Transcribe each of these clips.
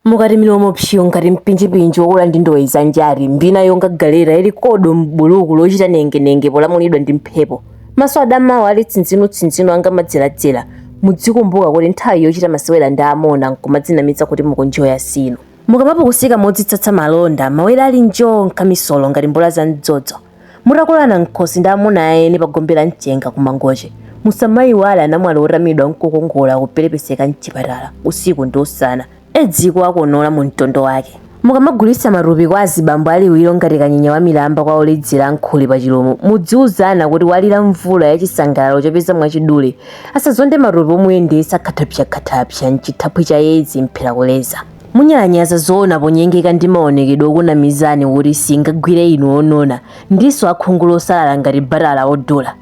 Mukati milomo psyo ngati mpinjipinji wokula ndi ndowe za njati, mbina yonga galeta ili kodo m'buluku lochita nengenenge polamulidwa ndi mphepo, maso adamawo ali tsinzinutsinzinu anga madzeradzera, mudzikumbuka kuti nthawi yochita masewera ndi amuna nkumadzinamiza kuti mukunjoya siino. Mukamapukusika modzitsatsa malonda, mawere ali njo nkamisolo ngati mbola za mdzodzo. Mutakolana m'khosi ndi amuna a eni pa gombe la mchenga ku Mangochi, musamaiwale anamwali otamidwa n'kukongola akuperepeseka m'chipatala usiku ndi usana, Edzi ikuwakonola mu mtondo wake. Mukamagulitsa matupi kwa azibambo a liwiro ngati kanyenya wa milamba kwa oledzera a nkhuli pa Chilomo, mudziuzana kuti walira mvula ya chisangalalo chopeza mwachidule, asazonde matope omuyendetsa khathapsakhathapsa m'chithaphwi cha Edzi mphera kuleza. Munyalanyaza zoona ponyengeka ndi maonekedwe okunamizani kuti siingagwire inu onona ndinso akhungu losalala ngati batala odula.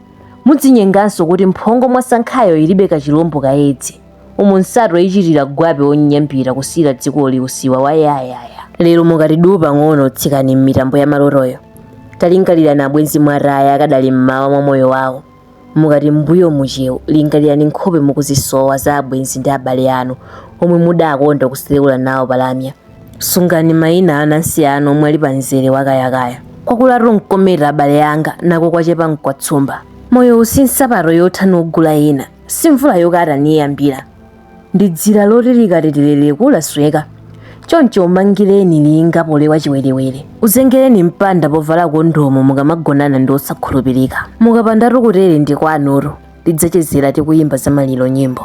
Mudzinyenganso kuti mphongo mwasankhayo ilibe kachilombo ka Edzi. Umu nsato ichitira gwape onyambita kusiyira dzikoli usiwa wa yayaya. Lero mukati duu pang'ono tsikani m'mitambo ya malotoyo. Talingalirani abwenzi mwataya akadali m'mawa mwa moyo wawo. Mukati m'mbuyomu cheu, lingalirani nkhope mukuzisowa za abwenzi ndi abale anu omwe mudakonda kuseleula nawo pa lamya. Sungani maina a anansi anu omwe ali pa mzere wa kayakaya. Kwakulatu n'kometa abale anga, nako kwachepa n'kwa tsumba. Moyowu si nsapato yotha nugula ina, si mvula yokata niyambira. ndi dzira loti likaterereka lasweka choncho umangireni linga polewa chiwerewere uzengereni mpanda povala kondomu mukamagonana ndi osakhulupirika mukapandatu kutere ndi kwanutu tidzachezera tikuyimba za maliro nyimbo